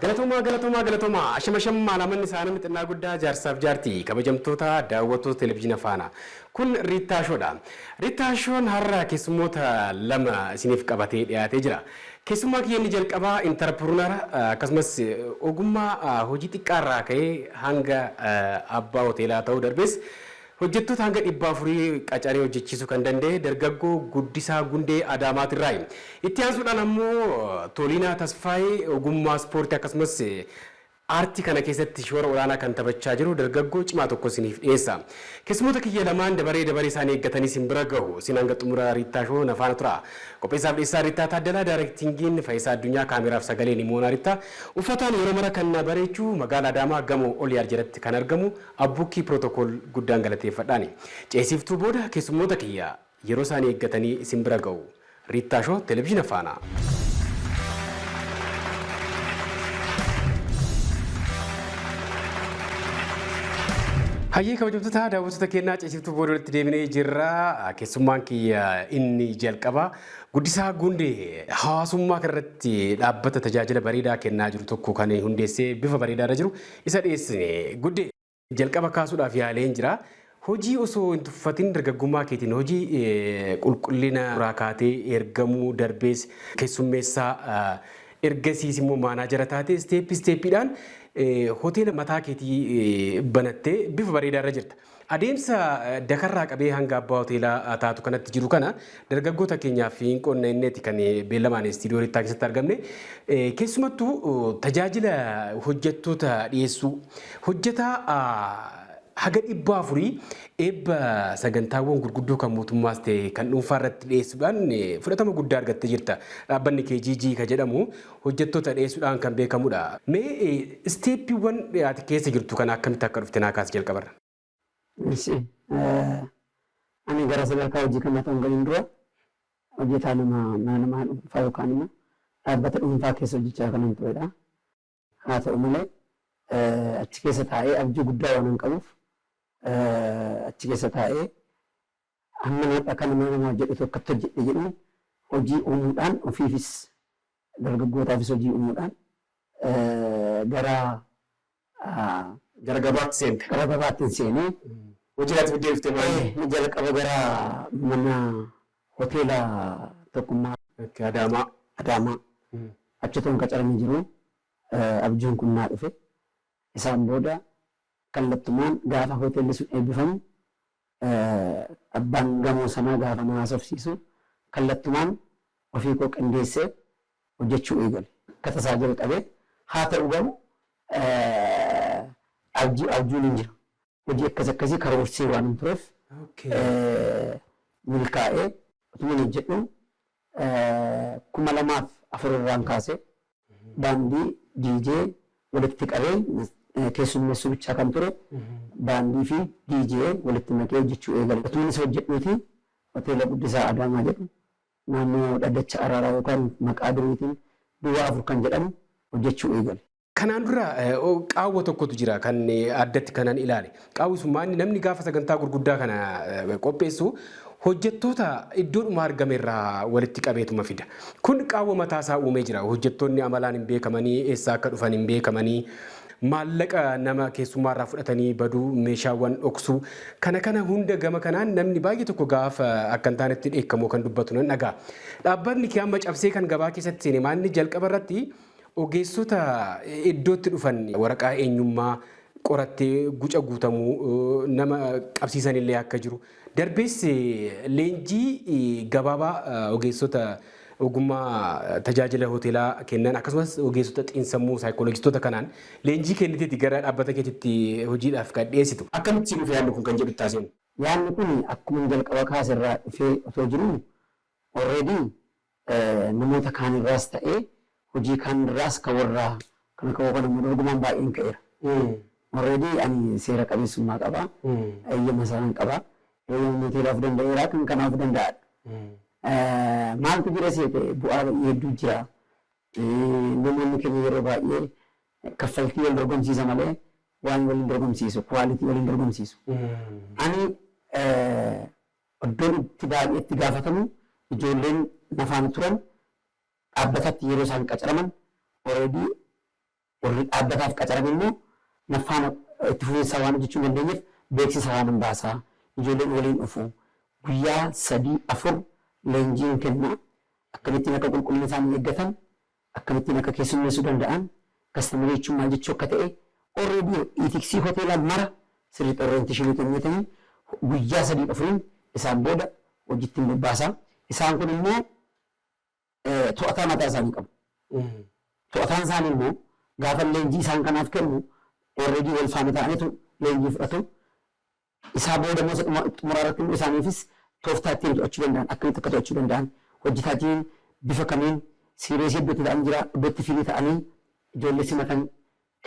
Galatoomaa galatoomaa galatoomaa ashama shammaa lamanni isaanii mixinnaa guddaa jaarsaaf jaartii kabajamtoota daawwattoota televizyiina faana kun Riittaa Shoodha. Riittaa Shoon har'a keessummoota lama isiniif qabatee dhiyaatee jira. Keessummaa kiyya inni jalqabaa intarpirunara akkasumas ogummaa hojii xiqqaa irraa ka'ee hanga abbaa hoteelaa ta'uu darbees hojjettoota hanga 400 qacaree hojjechiisuu kan danda'e dargaggoo Guddisaa Gundee Adaamaat irraayi. Itti aansuudhaan ammoo Toliinaa Tasfaayee ogummaa ispoortii akkasumas Aartii kana keessatti shoora olaanaa kan taphachaa jiru dargaggoo cimaa tokko isiniif dhiyeessa. Keessummoota kiyya lamaan dabaree dabaree isaanii eeggatanii isin bira gahu. Isin hanga xumura Riittaa Show na faana turaa. Qopheessaaf dhiyeessaan Riittaa Taaddalaa, Daarektiingiin Fayisaa Addunyaa, Kaameeraaf Sagalee Nimoonaa Riittaa. Uffataan yeroo mara kan na bareechu magaala Adaamaa gamoo Oliyaar jalatti kan argamu Abbuukkii Pirootokool guddaan galateeffadhaani. Ceesiiftuu booda keessummoota kiyya. Yeroo isaanii eeggatanii isin bira ga'u. Riittaa Show Televizhiina Faanaa. Hayyee kabajamtoota daawwattoota keenyaa ciisiftuu booda walitti deebinee jirra. Keessummaan kiyya inni jalqabaa Guddisaa Gundee hawaasummaa kanarratti dhaabbata tajaajila bareedaa kennaa jiru tokko kan hundeessee bifa bareedaarra jiru isa dhiyeessine. Guddee. Jalqaba kaasuudhaaf yaaleen jira. Hojii osoo hin tuffatin dargaggummaa keetiin hojii qulqullina irraa kaatee ergamuu darbees keessummeessaa ergasiis immoo maanaajara taatee isteeppii isteeppiidhaan hoteela mataa keetii banattee bifa bareedaa irra jirta. Adeemsa dakarraa qabee hanga abbaa hoteelaa taatu kanatti jiru kana Dargaggoota keenyaaf hin qonna inneeti kan beellamaan istiidiyoo Rittaa keessatti argamne. Keessumattuu tajaajila hojjettoota dhiyeessuu hojjetaa haga dhibba afurii eebba sagantaawwan gurguddoo kan mootummaas ta'e kan dhuunfaa irratti dhiyeessuudhaan fudhatama guddaa argattee jirta. Dhaabbanni KGG kan jedhamu hojjettoota dhiyeessuudhaan kan beekamudha. Mee isteeppiiwwan ati keessa jirtu kana akkamitti akka dhufte naa kaasi jalqabarra. Eshi Ani gara sadarkaa hojii kanaa otoo hin galiin dura hojjetaa nama mana namaa dhuunfaa yookaan immoo dhaabbata dhuunfaa keessa hojjechaa kanan turedha. Haa ta'u malee achi keessa taa'ee abjuu guddaa waanan qabuuf achi keessa taa'ee Hamman har'a kana nama maa jedhu tokkotti hojjedhe jedhuun hojii uumuudhaan ofiifis dargaggootaafis hojii uumuudhaan gara gara gabaatti seente. gara gabaattin seenee Hojii irraatti fiddee dhuftee maal? ee, ni jalqaba gara mana hoteela tokkummaa Itti Adaamaa. Adaamaa achi toon qacaramee jiru eh, abjuun kun naa dhufe. Isaan booda kallattumaan gaafa hoteelli sun eebbifamu Abbaan gamoo sanaa gaafa na haasofsiisu kallattumaan ofii koo qindeessee hojjechuu eegale. Akka tasaa jalqabe, haa ta'u garuu abjuu abjuun hin jiru. Hojii akkas akkasii karoorsee waanan tureef milkaa'ee otuman hojjedhuu 2004 irraan kaasee baandii DJ walitti qabee keessummeessuu bichaa kan ture baandii fi DJ walitti makee hojjechuu eegale. Otuman isa hojjedhuuti Hoteela Guddisaa Adaamaa jedhu naannoo Dhaddacha Araaraa yookaan maqaa duriitiin Duwwaa 4 kan jedhamu hojjechuu eegale. Kanaan dura qaawwa tokkotu jira kan addatti kanan ilaale. Qaawwi sun maanni namni gaafa sagantaa gurguddaa kana qopheessu hojjettoota iddoodhuma argamerraa walitti qabeetuma fida. Kun qaawwa mataasaa uumee jira. Hojjettoonni amalaan hin beekamanii, eessaa akka dhufan hin beekamanii, maallaqa nama keessummaarraa fudhatanii baduu, meeshaawwan dhoksuu kana kana hunda gama kanaan namni baay'ee tokko gaafa akka hin taanetti dheekkamoo kan dubbatu nan dhaga'a. Dhaabbatni kee amma cabsee kan gabaa keessatti seene maanni jalqaba irratti Ogeessota iddootti dhufan waraqaa eenyummaa qorattee guca guutamu nama qabsiisan illee akka jiru, darbees leenjii gabaabaa ogeessota ogummaa tajaajila hoteelaa kennan akkasumas ogeessota xiinsammuu saayikooloojistoota kanaan leenjii kenniteeti gara dhaabbata keetitti hojiidhaaf kan dhiyeessitu. Akkamitti sii dhufe yaadni kun kan jedhu itti haasa'iin. Yaadni kun akkuman jalqaba kaase irraa dhufee otoo jiruu already namoota kaan irraas ta'ee hojii kaan irraas kan warra kan akka koo kana immoo dorgomaan baay'een ka'eera. Already ani seera qabeessummaa qaba. Eeyyama isaan qaba. Eeyyama mooteelaa of danda'eera kan kanaa of danda'aadha. Maaltu jira seete bu'aa ba'ii hedduu jira. Namoonni keenya yeroo baay'ee kaffaltii wal dorgomsiisa malee waan waliin dorgomsiisu quality waliin dorgomsiisu. Ani Iddoon itti baay'ee itti gaafatamu ijoolleen nafaan turan dhaabbatatti yeroo isaan qacaraman already warri dhaabbataaf qacarame immoo nafaana itti fufinsaan waan hojjechuu hin dandeenyeef beeksisa waanan baasa. Ijoolleen waliin dhufu. Guyyaa sadii afur leenjiin kenna. Akkamittiin akka qulqullina isaanii eeggatan akkamittiin akka keessummeessuu danda'an, customer jechuun maal jechuu akka ta'e, already itiksii hoteelaa mara sirriitti orientation kenneetanii guyyaa sadiif afuriin isaan booda hojiitti hin bobbaasa. Isaan kun immoo to'ataa mataa isaanii qabu. To'ataan isaanii immoo gaafan leenjii isaan kanaaf kennu already wal faana ta'anitu leenjii fudhatu. Isaa booda immoo isa dhuma xumuraa irratti immoo isaaniifis tooftaa ittiin to'achuu danda'an akkamitti akka to'achuu danda'an hojjetaatiin bifa kamiin siireesii iddoo itti ta'an jira iddoo itti firii ta'anii ijoollee simatan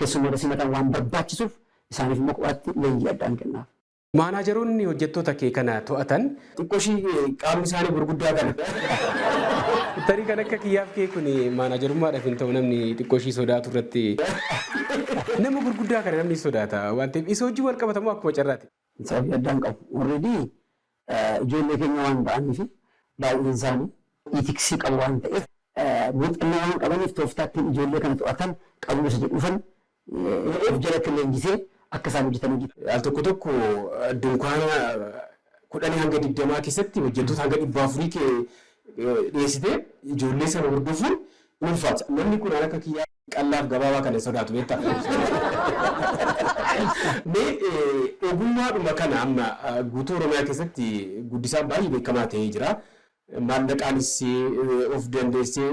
keessummoota simatan waan barbaachisuuf isaaniif immoo kophaatti leenjii addaa ni kennaaf. Maanaajaroonni hojjettoota kee kana to'atan Xiqqo ishii qaamni isaani gurguddaa kana. Tarii kan akka kiyyaaf kee kun maanaajarummaadhaf hin ta'u namni xiqqoo ishii sodaatu irratti nama gurguddaa kana namni sodaata waan ta'eef isa wajjin wal qabata moo akkuma carraati? Sababii addaa hin qabu. Already ijoollee keenya waan ta'aniif baay'een isaani itiksii qabu waan ta'eef muuxannoo waan qabaniif tooftaa ittiin ijoollee kana to'atan qabu isa jedhuufan of jalatti leenjisee akka isaan hojjetan hojii. Al tokko tokko dunkaana kudhanii hanga digdamaa keessatti hojjettoota hanga dhibba afurii ke dhiyeessitee ijoollee sana hordofuun in ulfaata. Namni kun akka kiyyaa qallaaf gabaabaa kana hin sodaatu beektaa. Mee eh, ogummaadhuma kana amma ah, guutuu Oromiyaa keessatti guddisaan baay'ee beekamaa ta'ee jira. Maallaqaanis eh, of dandeessee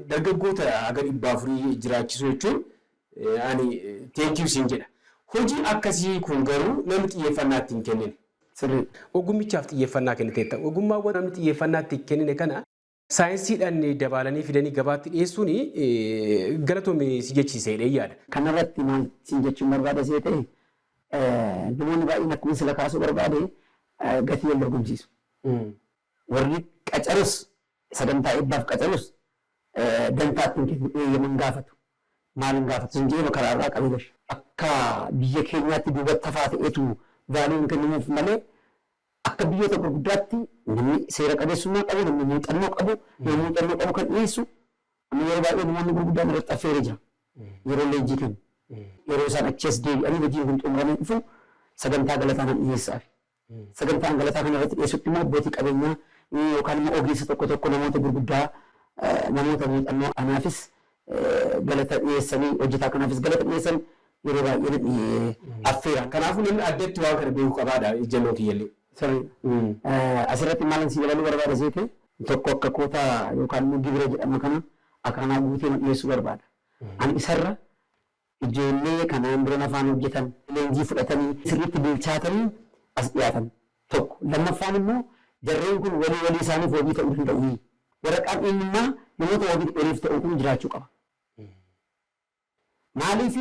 dargaggoota haga dhibba afurii jiraachisuu jechuun Ani thank you siin jedha. Hojii akkasii kun garuu namni xiyyeeffannaa itti hin kennine. Sirriidha. Ogummichaaf xiyyeeffannaa kenniteetta. Ogummaawwan namni xiyyeeffannaa itti hin kennine kana saayinsiidhaan dabaalanii fidanii gabaatti dhiyeessuun galatoomi si jechiisa jedheen yaada. Kanarratti maal siin jechuun barbaada seete, namoonni baay'een akkuman sila kaasuu barbaade gatii wal dorgomsiisu. Warri qacarus Sagantaa eebbaaf qacarus dantaa ittiin kennu eeyyama hin gaafatu. Maal hin gaafatu sin je'eema karaa irraa qabi bar. Akka biyya keenyaatti duubatti hafaa ta'eetu value hin kennamuuf malee akka biyyoota gurguddaatti namni seera qabeessummaa qabu, namni muuxannoo qabu, nama muuxannoo qabu kan dhiyeessu amma yeroo baay'ee namoonni gurguddaan irratti affeeree jira. Yeroo leenjii kennu. Yeroo isaan achii as deebi'anii hojiin kun xumuramee dhufu sagantaa galataa nan dhiyeessaafi. Sagantaa angalataa kana irratti dhiyeessutti immoo abbootii qabeenyaa yookaan immoo ogeessa tokko tokko namoota gurguddaa namoota muuxannoo kanaafis galata dhiyeessanii hojjetaa kanaafis galata dhiyeessan yeroo baay'ee na affeera. Kanaafuu namni addatti waan kana beeku qabaadha ijjannoo kiyyallee. Sirriidha. Asirratti maalan sii dabaluu barbaada seete tokko akka kootaa yookaan immoo gibira jedhama kana akaanaa guutee ma dhiyeessuu barbaada. Ani isarra Ijoollee kanaan dura nafaan hojjetan, leenjii fudhatanii sirriitti bilchaatanii as dhiyaatan, tokko. Lammaffaan immoo jarreen kun walii walii isaaniif wabii ta'uu danda'uuyii? Waraqaan eenyummaa namoota wabii waliif ta'uu kun jiraachuu qaba. Maaliif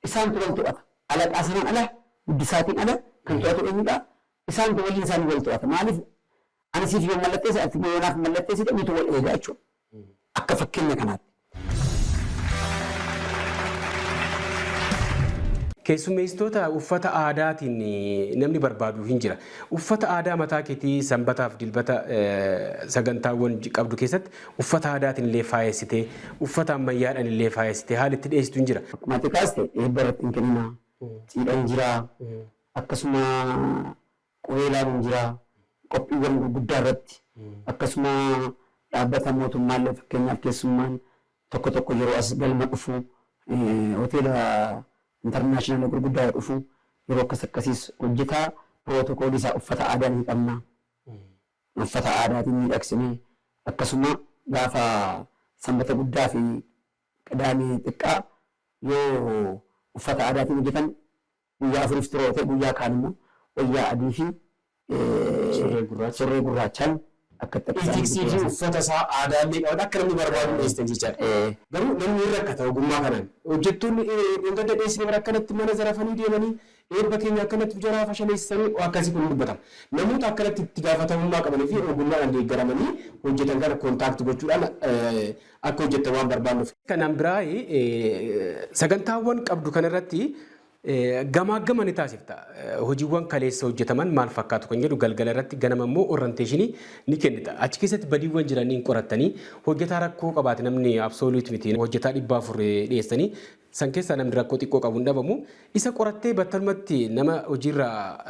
isaantu wal to'ata. Alaqaa sanaan ala, Guddisaatiin ala kan to'atu eenyudha? Isaantu waliin isaanii wal to'ata. Maaliif ani siif yoon mallatteesse ati immoo yoo naaf hin mallatteessite nutu wal eega jechuudha. Akka fakkeenya kanaatti. Keessummeessitoota uffata aadaatiin namni barbaadu hin jira. Uffata aadaa mataa keetii sanbataaf dilbata sagantaawwan qabdu keessatti uffata aadaatiin illee faayessitee uffata ammayyaadhaan illee faayessitee haala itti dhiyeessitu hin jira. Akkuma ati kaaste eebba irratti hin kennina, cidha hin jira, akkasuma qubeelaa nuun jiraa. Qophiiwwan gurguddaa irratti akkasuma dhaabbata mootummaa illee fakkeenyaaf keessummaan tokko tokko yeroo as galma dhufu hoteela intarnaashinaala gurguddaa yoo dhufu yeroo akkas akkasiis hojjetaa pirootokoolii isaa uffata aadaa ni qabna. Uffata aadaatiin miidhagsinee akkasuma gaafa sanbata guddaa fi qidaamee xiqqaa yoo uffata aadaatiin hojjetan Guyyaa afuriif xuroofee guyyaa kaan immoo wayyaa adii fi surree gurraachaan akka itti argamu Itiksii fi dhiyeessan. uffata isaa aadaa illee qabata akka namni barbaadu dhiyeessan jechaadha. Ee. Garuu namni hin rakkata ogummaa kanaan. Hojjettoonni dheengadda dhiyeessine bara akkanatti mana zarafanii deemanii eebba keenya akkanatti of jalaa fashaleessanii waan akkasii kun hin dubbatama. Namoota akkanatti itti gaafatamummaa qabanii fi ogummaadhaan deeggaramanii hojjetan kana contact gochuudhaan akka hojjettan waan barbaannuuf. Kanaan biraa sagantaawwan qabdu kanarratti gamaaggama ni taasifta. Hojiiwwan kaleessa hojjetaman maal fakkaatu kan jedhu galgala irratti ganama immoo orranteeshinii ni kennita. Achi keessatti badiiwwan jiran hin qorattanii hojjetaa rakkoo qabaate namni absolute miti hojjetaa dhibba afur dhiyeessanii San keessaa namni rakkoo xiqqoo qabu hin dhabamu. Isa qorattee battalumatti nama hojiirraa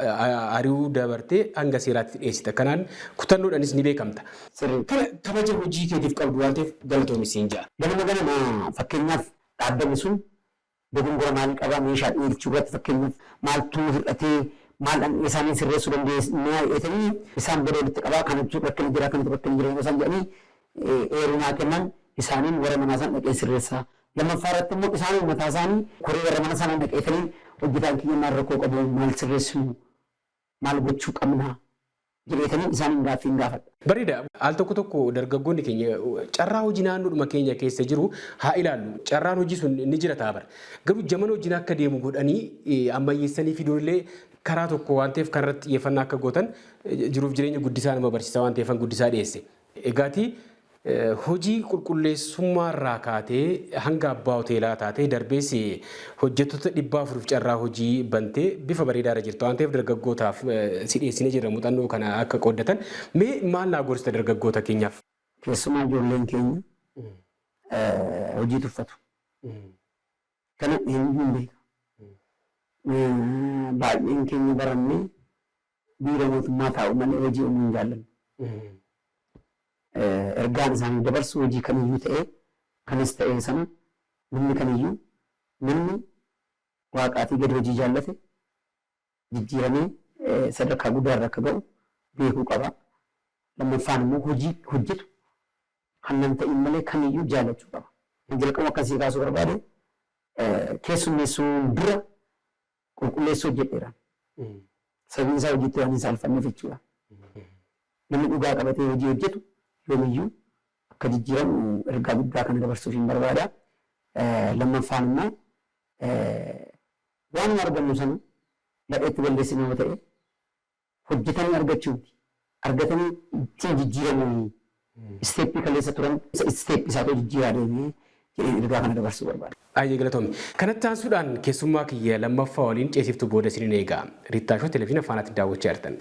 ari'uu dabartee hanga seeraatti dhiyeessita. Kanaan kutannoodhaanis ni beekamta. Sirrii. Kana kabaja hojii keetiif qabdu waan ta'eef galatoomi siin jedha. Ganama ganama fakkeenyaaf dhaabbanni sun dogongora maalii qaba, meeshaa dhiyeelchuu irratti fakkeenyaaf maaltu hir'atee, maal dhandheesaanii sirreessuu dandeesnaa jedheetanii isaan booda walitti qabaa kanatu rakkina jira, kanatu rakkina jira yeroo isaan jedhanii eeruu naa kennan isaaniin warra manaa sana dhaqeen sirreessaa Lammaffaa irratti immoo isaanuma mataa isaanii koree warra mana sanaa dhaqeetanii hojjetaan kiyya maal rakkoo qabu, maal sirreessinu, maal gochuu qabna jedheetanii isaaniin gaaffii hin gaafadha. Bareeda. Al tokko tokko dargaggoonni keenya carraa hojii naannoodhuma keenya keessa jiru haa ilaallu. Carraan hojii sun ni jira ta'a bara. Garuu jaman hojiin akka deemu godhanii ammayyeessanii fiduun illee karaa tokko waan ta'eef kanarratti xiyyeeffannaa akka gootan jiruuf jireenya guddisaa nama barsiisa waan ta'eefan guddisaa dhiyeesse. Egaa ati hojii qulqulleessummaarraa kaatee hanga abbaa hoteelaa taatee darbees hojjettoota 400f carraa hojii bantee bifa bareedaarra jirta waan ta'eef dargaggootaaf si dhiyeessinee jirra muuxannoo kana akka qooddatan. Mee maal naa gorsita dargaggoota keenyaaf? Keessumaa ijoolleen keenya hojii tuffatu. Akkana dhiheen hin beeku. Baay'een keenya barannee biiroo mootummaa taa'u malee hojii uumuu hin jaallannu. Ergaan isaaniif dabarsu hojii kamiyyuu ta'ee kanas ta'ee sana namni kamiyyuu namni waaqaatii gadi hojii jaallate jijjiiramee sadarkaa guddaa irra akka ga'u beekuu qaba. Lammaffaan immoo hojii hojjetu kan nan ta'iin malee kamiyyuu jaallachuu qaba. Kan jalqabu akkan sii kaasuu barbaade keessummeessuun dura qulqulleessuu hojjedheera. Sababiin isaa hojiitti waan hin saalfanneef jechuudha. Namni dhugaa qabatee hojii hojjetu yoomiyyuu akka jijjiiramu ergaa guddaa kana dabarsuuf hin barbaada. Lammaffaan immoo Waanuma argannu sana gadheetti balleessina yoo ta'e hojjetanii argachuu miti. Argatanii ittiin jijjiiramuuni. Isteeppii kaleessa turan isa isteeppi isaatu jijjiiraa deeme jedheen ergaa kana dabarsuu barbaada. Baay'ee galatoomi. Kanatti aansuudhaan keessummaa kiyya lammaffaa waliin ceesiiftuu booda isinin eega. Riittaa Show Televizyina Faanaatti daawwachaa jirtan.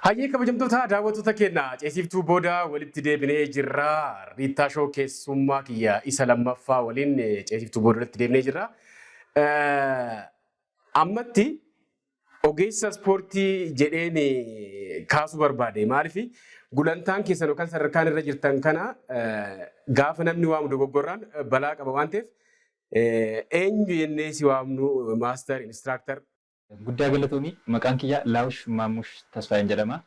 Hayyee kabajamtoota daawwattoota keenya ceesiiftuu booda walitti deebinee jirra. Riittaa Show keessummaa kiyya isa lammaffaa waliin ceesiiftuu booda walitti deebinee jirra. Ammatti ogeessa ispoortii jedheen kaasuu barbaade. Maaliif gulantaan keessan yookaan sadarkaan irra jirtan kana gaafa namni waamu dogoggorraan balaa qaba waan ta'eef eenyu jennee si waamnu maaster inistiraaktar Guddaa galatoomi maqaan kiyya Laawush Maammush Tasfaayeen jedhama.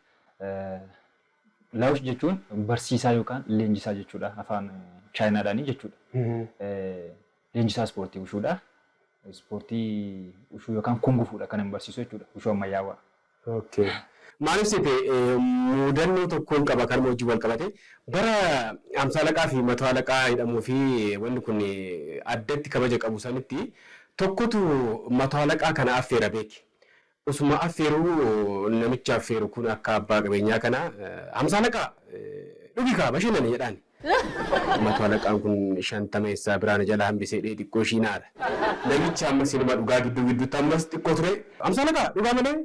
Laawush jechuun barsiisaa yookaan leenjisaa jechuudha afaan chaayinaadhaanii jechuudha. Leenjisaa ispoortii wushuudha. Ispoortii wushuu yookaan kungufuudha kanan barsiisu jechuudha wushuu ammayyaawaa. Okay. Maaliif seete muudannoo tokkoon qaba kanuma wajjin wal qabate bara amsaalaqaa fi matoo alaqaa jedhamuu fi wanni kun addatti kabaja qabu sanitti Tokkotu mato halaqaa kana affeera beeki. Osuma affeeruu namichi affeeru kun akka abbaa qabeenyaa kana Hamsa halaqaa! Dhugi kaa bashannani jedhaani. Mato halaqaan kun shantama essaa biraa na jalaa hambisee dhee xiqqoo ishii na ara. Namichi ammas inuma dhugaa gidduu gidduutti ammas xiqqoo turee Hamsa halaqaa! Dhugaa malee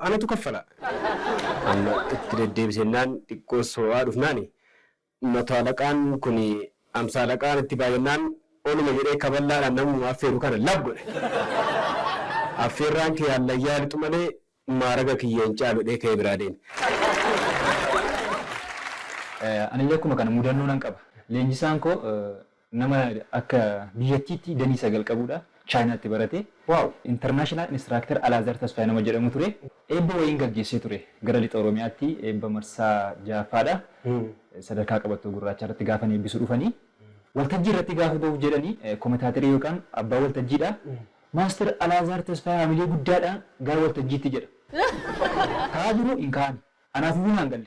anatu kaffala. Amma itti deddeebisennaan xiqqoo soo'aa dhufnaani Mato Alaqaan kun Amsa Alaqaan itti baay'annaan oluma jedhee kaballaadhaan namuma affeeru kana lab godhe. Affeerraan kee hallayyaa haa lixu malee maaraga kiyya hin caalu jedhee ka'ee biraa deeme. Anillee akkuma kana mudannoo nan qaba. Leenjisaan koo Nama akka biyyattiitti danii sagal qabuudha. Chaayinaatti barate. International Instructor Alaazar Tasfaye nama jedhamu ture. Eebba wayiin gaggeessee ture. Gara Lixa Oromiyaatti eebba marsaa jahaffaadha. Sadarkaa qabattoo gurraachaa irratti gaafan eebbisu dhufanii. Waltajjii irratti gaafa bahuuf jedhani kometaaterii yookaan abbaa waltajjiidha. Master Alaazaar Tasfaye hamilee guddaadhaan gara waltajjiitti jedha. Ka'aa jiru hin ka'ani. Anaaf iyyuu naan galle.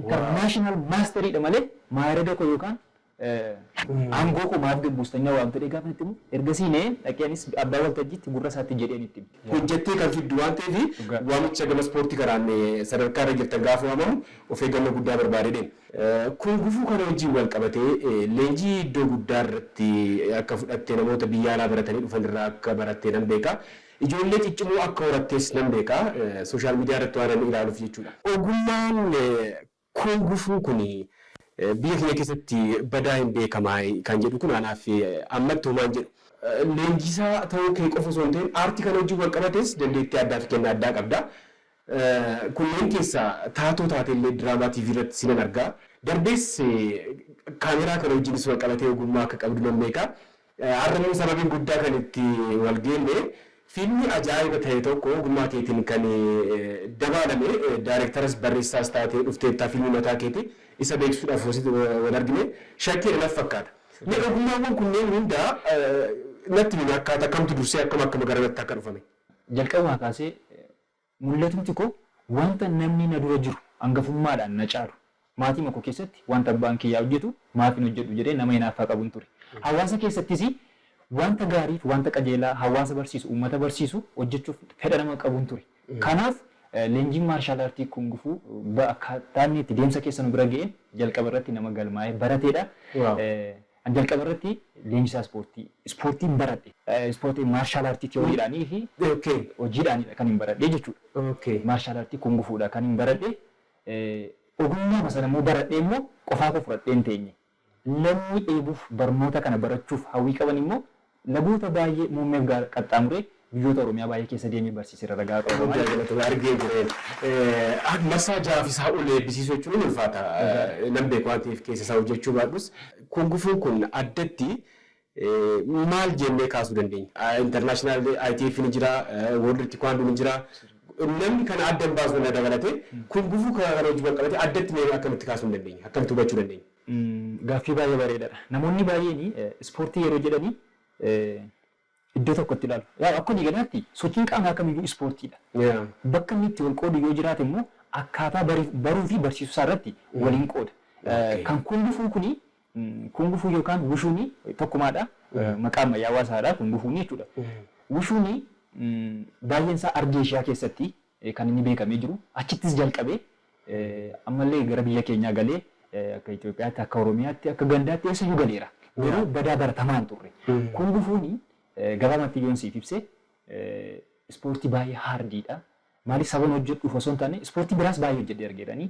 international mastery dha malee maayirada koo yookaan aangoo koo maaf gad buustannaa waamtu jedhee gaafan itti himu ergasii na'ee dhaqee anis abbaa waltajjiitti gurra isaatti jedheen itti hime. Hojjettee kan fiddu waan ta'eef waamicha gama ispoortii kanaan sadarkaa irra jirtan gaafa waamamu of eeggannoo guddaa barbaada jedheen. Kun gufuu kana wajjin wal qabatee leenjii iddoo guddaa irratti akka fudhatte namoota biyya alaa baratanii dhufan irraa akka baratte nan beeka. Ijoollee ciccimoo akka horattes nan beeka. Social media irratti waanan ilaaluuf jechuudha. Ogummaan Kung Fu kun biyya keenya keessatti badaa hin beekama kan jedhu kun anaaf ammatti homaa hin jedhu. Leenjisaa ta'uu kee qofa osoo hin ta'in aartii kana wajjin wal qabatees dandeettii addaa fi kennaa addaa qabda. Kunneen keessaa taatoo taatee illee diraamaa TV irratti si nan arga. Darbees kaameeraa kana wajjinis wal qabatee ogummaa akka qabdu nan beeka. Har'a immoo sababiin guddaa kan itti wal geenne fiilmii ajaa'iba ta'e tokko ogummaa keetiin kan dabaalame daarektaras barreessaas taatee dhufteetta fiilmii mataa keetii isa beeksisuudhaaf hoositti wal argine shakkeera natti fakkaata. Mee ogummaawwan kunneen hunda natti himi akkaataa kamtu dursee akkam akkam garanatti akka dhufame. Jalqabumaa kaasee Mul'atumti koo wanta namni na dura jiru angafummaadhaan na caalu, maatiima koo keessatti wanta abbaan kiyyaa hojjetu maaf hin hojjedhu jedhee nama hinaaffaa qabun ture. Hawaasa keessattis wanta gaariif wanta qajeelaa hawaasa barsiisu, uummata barsiisu hojjechuuf fedha nama qabun ture. Kanaaf leenjiin maarshaal aartii kungufuu akkaataa inni itti deemsa keessa nu bira ga'een jalqaba irratti nama galmaa'ee barateedha. An jalqaba irratti leenjisaa ispoortii ispoortiin baradhe. Ispoortii maarshaal aartii tiyooriidhaanii fi hojiidhaanidha kanin baradhe jechuudha. Maarshaal aartii kungufuudha kanin baradhe. Ogummaama sana immoo baradhee immoo qofaa koo fudhadhee hin teenye. Namni dheebuuf barnoota kana barachuuf hawwii qaban immoo Lagoota baay'ee muummeef gaara qaxxaamuree biyyoota Oromiyaa baay'ee keessa deemee barsiiseera ragaa qaba. Dhugaa Guddaa jechuudha. galatoomi argee jireen. Eh, Marsaa ja'aaf isaa ol eebbisiisuu jechuun hin ulfaata. Dhugaa. Eh, Nan beeku waan ta'eef keessa isaa hojjechuu baadhus. Kun gufuun kun addatti eh, maal jennee kaasuu dandeenya? Ah, International ITF ni jira, eh, World Taekwondo ni jira. Namni kana adda hin baasu na dabalatee kun gufuu kana kana wajjin wal qabatee addatti mee akkamitti kaasuu hin dandeenya? Akkamitti hubachuu dandeenya? Gaaffii baay'ee bareedadha. Namoonni baay'een ispoortii yeroo jedhani iddoo tokkotti ilaalu. Yaa akka walii galaatti sochiin qaamaa kamiyyuu ispoortiidha. Bakka inni itti wal qoodu yoo jiraate immoo akkaataa baruu fi barsiisuu isaa irratti waliin qooda. Kan kungufuu kuni kungufuu yookaan wushuuni tokkumaadha. Maqaa ammayyaawaa isaadha kungufuuni jechuudha. Wushuuni baay'een isaa Ardii Eeshiyaa keessatti kan inni beekamee jiru. Achittis jalqabee ammallee gara biyya keenyaa galee akka Itoophiyaatti, akka Oromiyaatti, akka gandaatti eessayyuu galeera. Garuu badaa baratamaa hin turre. Kun gufuun gabaabamatti yoon siif ibse ispoortii baay'ee haardiidha. Maaliif saban hojjedhuuf osoo hin taane ispoortii biraas baay'ee hojjedhee argeerani.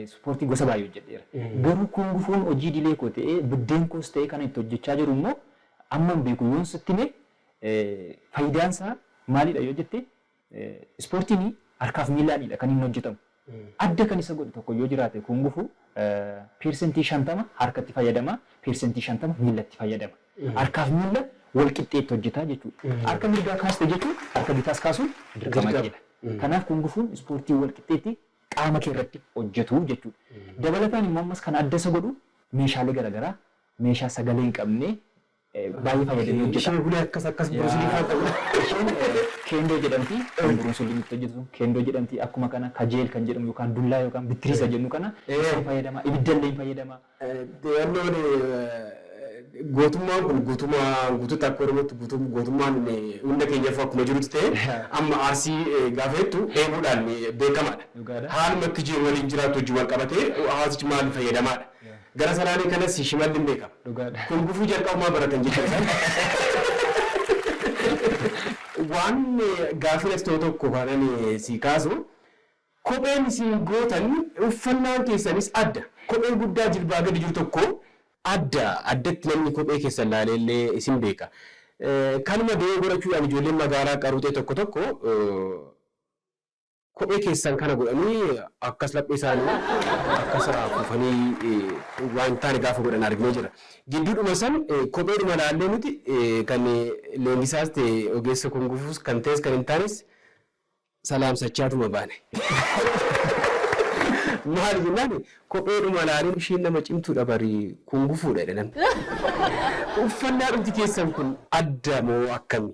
Ispoortii gosa baay'ee hojjedheera. Garuu kun gufuun hojii idilee koo ta'ee buddeen koos ta'ee kana itti hojjechaa jiru immoo amman beeku yoon sitti hime faayidaan isaa maalidha yoo jette Ispoortiin harkaaf miilaanidha kan inni hojjetamu. Adda kan isa godhu tokko yoo jiraate Kuung Fu percentii 50 harkatti fayyadama, percentii 50 miilatti fayyadama. Harkaaf miila wal qixxee itti hojjeta jechuudha. Harka mirgaa kaaste jechuun harka bitaas kaasuun dirqama keedha. Kanaaf Kuung Fuun ispoortii wal qixxee itti qaama kee irratti hojjetu jechuudha. Dabalataan immoo ammas kan adda isa godhu meeshaalee gara garaa meeshaa sagalee hin qabne Baay'ee fayyadamee hojjeta. Ishee hulee akkas akkas Bruce Lee faan qabudha. Isheen Kendo jedhamti. Kan Bruce Lee itti hojjetu sun Kendo jedhamti. Akkuma kana kajeel kan jedhamu yookaan dullaa yookaan bittirii isa jennu kana isheen fayyadama. Ibidda illee hin fayyadama. Deewannoon gootummaan kun guutumaan guututti akka Oromootti guutuu gootummaan hunda keenyaafuu akkuma jirutti ta'ee amma Arsii gaafa jettu dheebuudhaan beekamaadha. Dhugaadha. Haaluma itti jiru waliin jiraatu wajjin wal qabatee hawaasichi maaliin fayyadamaadha. Gara salaale kanas shimalli hin beeka. Kun gufuu jalqabumaa baratan jechuudha isaan. Waan gaaffin as ta'u tokko kan ani sii kaasu kopheen isin gootan uffannaan keessanis adda. Kophee guddaa jilbaa gadi jiru tokko adda addatti namni kophee keessan laalee illee isin beeka. Kanuma dogogora chuudhaan ijoolleen magaalaa qaruuxee tokko tokko. Kophee keessan kana godhanii akkas laphee isaanii akkas kufanii waan hin taane gaafa godhan arginee jirra. Gidduudhuma san kopheedhuma ilaallee nuti kan leenjisaas ta'e ogeessa kungufuus kan ta'es kan hin taanes salaamsachaatuma baane. Maali jennaan kopheedhuma ilaaleen isheen nama cimtuudha bari kungufuudha jedhe namni. Uffannaadhumti keessan kun adda moo akkami?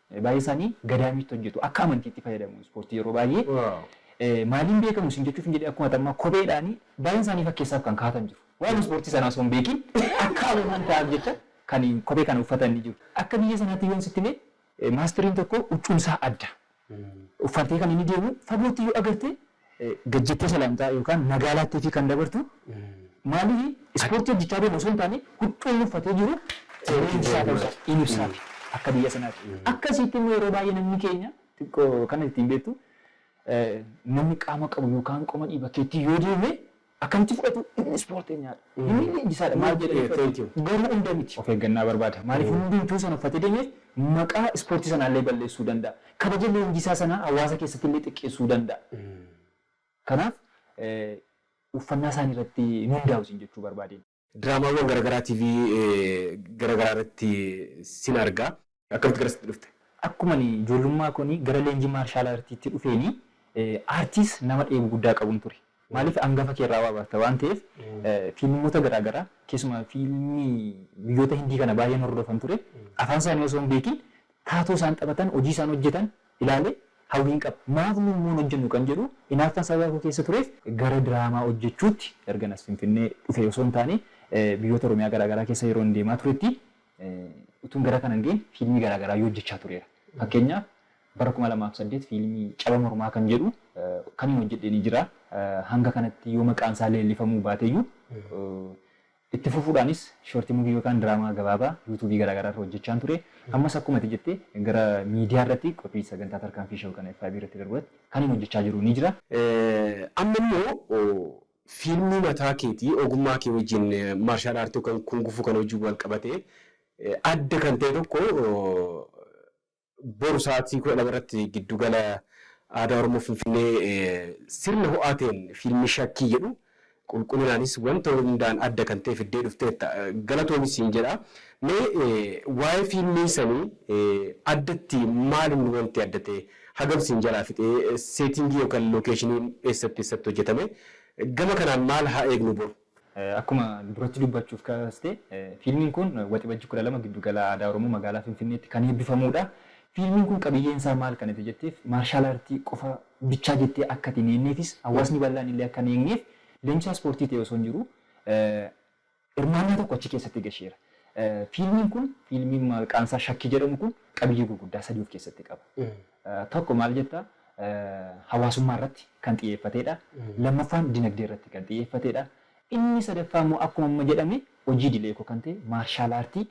Baay'ee isaanii gadaamiitti hojjetu. Akka amantiitti fayyadamu ispoortii yeroo baay'ee. Maaliin beekamu siin jechuufin jedhee akkuma atammaa kopheedhaani baay'een isaanii fakkeessaaf kan kaa'atan jiru. Waa'ee ispoortii sanaa osoo hin beekiin akka hawwataan taa'aaf jecha kan kophee kana uffatan ni jiru. Akka biyya sanaatti yoon sitti hime maastiriin tokko huccuun isaa adda. Uffatee kan inni deemu fagootti yoo agarte gad jettee salaamtaa yookaan nagaa laatteefii kan dabartu maaliifi ispoortii hojjechaa deema osoo hin taane huccuu inni uffatee jiru leenjisaa ta'uu isaa in ibsaafi akka biyya sanaati. Akkasiitti immoo yeroo baay'ee namni keenya xiqqoo kan ittiin beektu namni qaama qabu yookaan qoma dhiiba keetti yoo deeme Akkamitti fudhatu inni ispoorteenyaadha. Inni leenjisaadha maal jedhanii fudhatu. Garuu hunda miti. Of eeggannaa barbaada. Maaliif hundumtuu sana uffatee deemeef maqaa ispoortii sanaallee balleessuu danda'a. Kabaja leenjisaa sanaa hawaasa keessattillee xiqqeessuu danda'a. Kanaaf uffannaa isaaniirratti hin hundaa'u siin jechuu barbaadeen. Diraamaawwan garagaraa TV garagaraa irratti sin arga. Akkamitti garasitti dhufte? Akkuma ani ijoollummaa koonii gara leenjii maarshaal aartiitti dhufeenii aartiis nama dheebuu guddaa qabun ture. Maaliif angafa kee irraa waa barta waan ta'eef fiilmota garaa garaa keessumaa fiilmii biyyoota Hindii kana baay'een hordofan ture. Afaan isaanii osoo hin beekin taatoo isaan taphatan, hojii isaan hojjetan ilaalee hawwiin qaba. Maaf nu immoo hin hojjennu kan jedhu inaaffaan sababa koo keessa tureef, gara diraamaa hojjechuutti ergan as Finfinnee dhufee osoo hin taane biyyoota Oromiyaa garaa garaa keessa yeroon deemaa turetti utuun gara kana hin ga'iin fiilmii garaa garaayyuu hojjechaa tureera. Fakkeenyaaf bara 2008 fiilmii Caba Mormaa kan jedhu kaniin hojjedhe ni jira. Hanga kanatti yoo maqaan isaa leellifamuu baateyyuu Itti fufuudhaanis short movie yookaan diraamaa gabaabaa YouTube garaa garaa irra hojjechaan ture. Ammas akkuma ati jette gara miidiyaa irratti qophii sagantaa Tarkaanfii Show kana FIB irratti darbu irratti kanin hojjechaa jiru ni jira. Amma immoo fiilmii mataa keetii ogummaa kee wajjin martial art yookaan kung fu kana wajjin wal qabatee adda kan ta'e tokko boru sa'aatii 12 irratti giddu gala Aadaa Oromoo Finfinnee sirna ho'aa ta'een fiilmii Shakkii jedhu qulqullinaanis wanta hundaan adda kan ta'e fiddee dhufteetta. Galatoomi siin jedha. Mee waa'ee fiilmii sanii addatti maal inni wanti adda ta'e hagam siin jalaa fixe seetingii yookaan lookeeshiniin eessatti eessatti hojjetame gama kanaan maal haa eegnu boru? Akkuma duratti dubbachuuf kaaste, fiilmiin kun Waxibajji 12 Giddu Gala Aadaa Oromoo Magaalaa Finfinneetti kan eebbifamuudha. Fiilmiin kun qabiyyeen isaa maal kan ati jetteef, maarshaal aartii qofa bichaa jettee akka ati hin eegneefis, hawaasni bal'aan illee akka hin eegneef leenjisaa ispoortii ta'ee osoo hin jiruu hirmaannaa tokko achi keessatti gasheera. Fiilmiin kun, fiilmiin maqaan isaa Shakkii jedhamu kun qabiyyee gurguddaa sadii of keessatti qaba. Tokko maal jetta? Hawaasummaa irratti kan xiyyeeffateedha. Lammaffaan dinagdee irratti kan xiyyeeffateedha. Inni sadaffaa immoo akkuma amma jedhame hojii idilee koo kan ta'e maarshaal aartii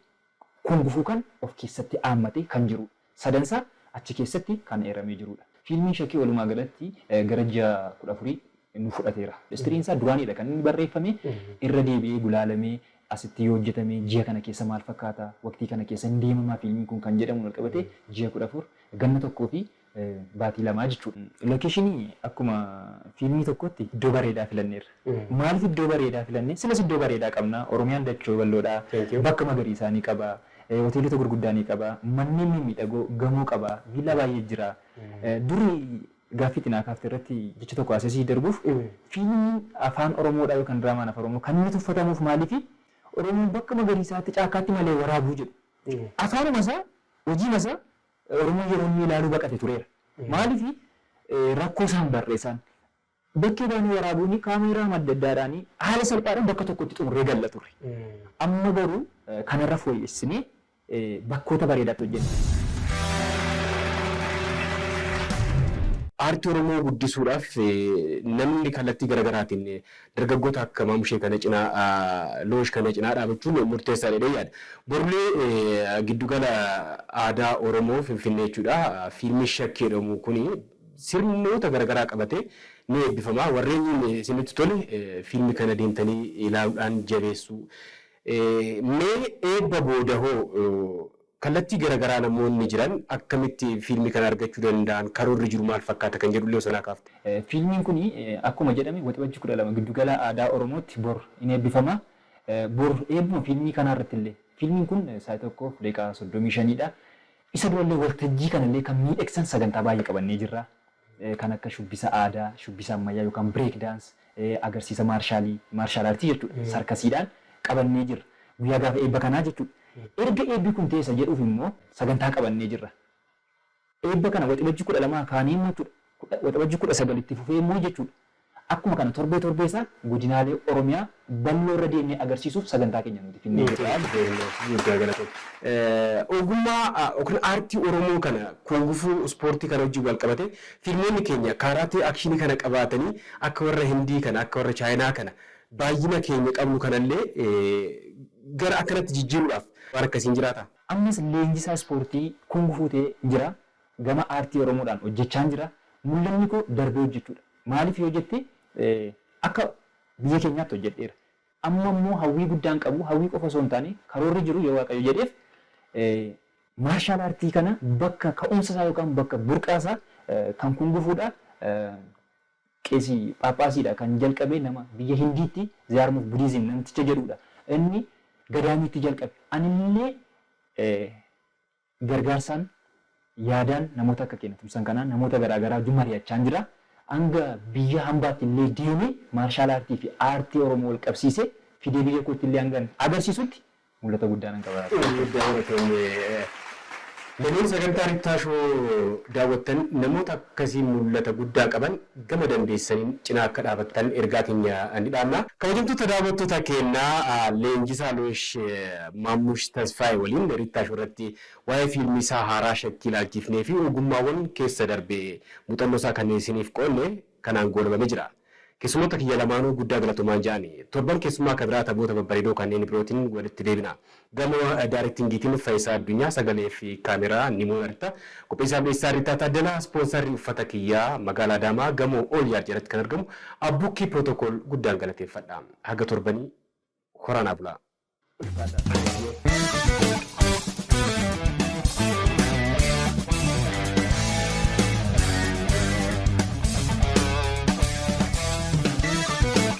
kungufuu kan of keessatti aammatee kan jiruudha. Sadan isaa achi keessatti kan eeramee jiruudha. Fiilmiin Shakee walumaa galatti gara ji'a 14 nu fudhateera. Istiriin isaa duraaniidha kan inni barreeffame, irra deebi'ee gulaalamee asitti yoo hojjetame ji'a kana keessa maal fakkaata, waqtii kana keessa hin deemamaa fiilmiin kun kan jedhamuun wal qabatee ji'a 14, ganna tokkoo fi baatii lamaa jechuudha. Lokeeshinii akkuma fiilmii tokkootti iddoo bareedaa filanneerra. Maaliif iddoo bareedaa filanne? Silas iddoo bareedaa qabna. Oromiyaan dachoo bal'oodha. Bakka magariisaa ni qaba. Hoteelota gurguddaa ni qaba. Manneen mimmiidhagoo, gamoo qaba. Viillaa baay'ee jira. Durii Gaaffii itti naa kaafte irratti jecha tokko asee sii darbuuf, fiilmiin Afaan Oromoodhaa yookaan diraamaan Afaan Oromoo kan inni tuffatamuuf maaliifi? Oromoon bakka magariisaatti, caakkaatti malee waraabuu jedhu. Afaanuma isaa, hojiima isaa Oromoon yeroo inni ilaaluu baqate tureera. Maaliifi? Rakkoo isaa hin barre isaan. Bakkee baanee waraabuuni kaameeraama adda addaadhaani haala salphaadhaan bakka tokkotti xumurree galla turre. Amma garuu kanarra fooyyessinee bakkoota bareedaatti hojjenne. Aartii Oromoo guddisuudhaaf namni kallattii gara garaatiin dargaggoota akka Maamushee kana cinaa, Loosh kana cinaa dhaabachuun murteessaadha jedheen yaada. Borullee Giddu Gala Aadaa Oromoo Finfinnee jechuudha, fiilmiin Shakkii jedhamu kun sirnoota gara garaa qabatee ni eebbifama. Warreen isinitti tole fiilmii kana deemtanii ilaaluudhaan jabeessuu. Mee eebba booda hoo kallattii garagaraa namoonni jiran akkamitti fiilmii kana argachuu danda'an, karoorri jiru maal fakkaata kan jedhullee osoo naa kaafte. Fiilmiin kun akkuma jedhame Waxabajji 12 Giddugala Aadaa Oromootti bor in eebbifama. Bor eebbuma fiilmii kanaarrattillee fiilmiin kun sa'aatii 1:35 dha. Isa durallee waltajjii kanallee kan miidhagsan sagantaa baay'ee qabannee jirra. kan akka shubbisa aadaa, shubbisa ammayyaa yookaan break dance, agarsiisa maarshaalii, martial art jechuudha, sarkasiidhaan qabannee jirra. Guyyaa gaafa eebba kanaa jechuudha. Erga eebbi kun ta'ee isa jedhuuf immoo sagantaa qabannee jirra. Eebba kana Waxibajjii 12 kaanee immoo jechuudha, Waxabajjii 19 itti fufee immoo jechuudha, Akkuma kana torbee torbee isaa godinaalee Oromiyaa balloo irra deemnee agarsiisuuf sagantaa keenya nuti finnee jirra jechuudha. Ogummaa yookiin aartii Oromoo kana kungufuu, ispoortii kana wajjin wal qabatee fiilmoonni keenya kaaraatee akshinii kana qabaatanii akka warra Hindii kana, akka warra Chaayinaa kana baayyina keenya qabnu kana illee gara akkanatti jijjiiruudhaaf waan akkasii hin jiraata? Ammas leenjisaa ispoortii kungufuu ta'ee jira. Gama aartii Oromoodhaan hojjechaan jira. Mul'anni koo darbee hojjechuudha. Maaliif yoo jette akka biyya keenyaatti hojjedheera. Amma immoo hawwii guddaan qabu hawwii qofa osoo hin taane karoorri jiru yoo Waaqayyo jedheef maarshaal aartii kana bakka ka'umsa isaa yookaan bakka burqaa isaa kan kungufuudha. Qeesii phaaphaasiidha kan jalqabe nama biyya Hindiitti Ziyaarmuuf Budiizim namticha jedhuudha. Inni gadaamiitti jalqabe. Anillee Gargaarsaan, yaadaan namoota akka keena tumsan kanaan namoota garaa garaa wajjin mari'achaan jira. Hanga biyya hambaatti illee deemee maarshaal aartii fi aartii Oromoo wal qabsiisee fidee biyya kootti illee hangan agarsiisutti mul'ata guddaa nan qaba. Guddaa galatoomi. Lameen sagantaa Rittaa Show daawwattan namoota akkasii mul'ata guddaa qaban gama dandeessaniin cinaa akka dhaabattan ergaa keenya ni dhaamna. Kabajamtoota daawwattoota keenya, leenjisaa Loosh Maammush Tasfaayee waliin Rittaa Show irratti waa'ee fiilmii isaa haaraa Shakkii ilaalchiifnee fi ogummaawwan keessa darbe muuxannoo isaa kan isiniif qoodne kanaan goolabame jira. Keessummoota kiyya lamaanuu guddaa galatomaan ja'ani. Torban keessummaa ka biraa taphoota babbareedoo kanneen birootin walitti deebina. Gama daarektingiitiin Fayisaa Addunyaa, Sagalee fi Kaameraa, Nimo Erta, Qopheessaa fi Dhiyeessaa Ritaa Taaddalaa, Ispoonsaarri Uffata Kiyyaa, Magaalaa Adaamaa, Gamoo All Yard jalatti kan argamu Abbukkii Protocol guddaan galateeffadha. Haga torbanii horaa naa bulaa. Ulfaadhaa Sagalee.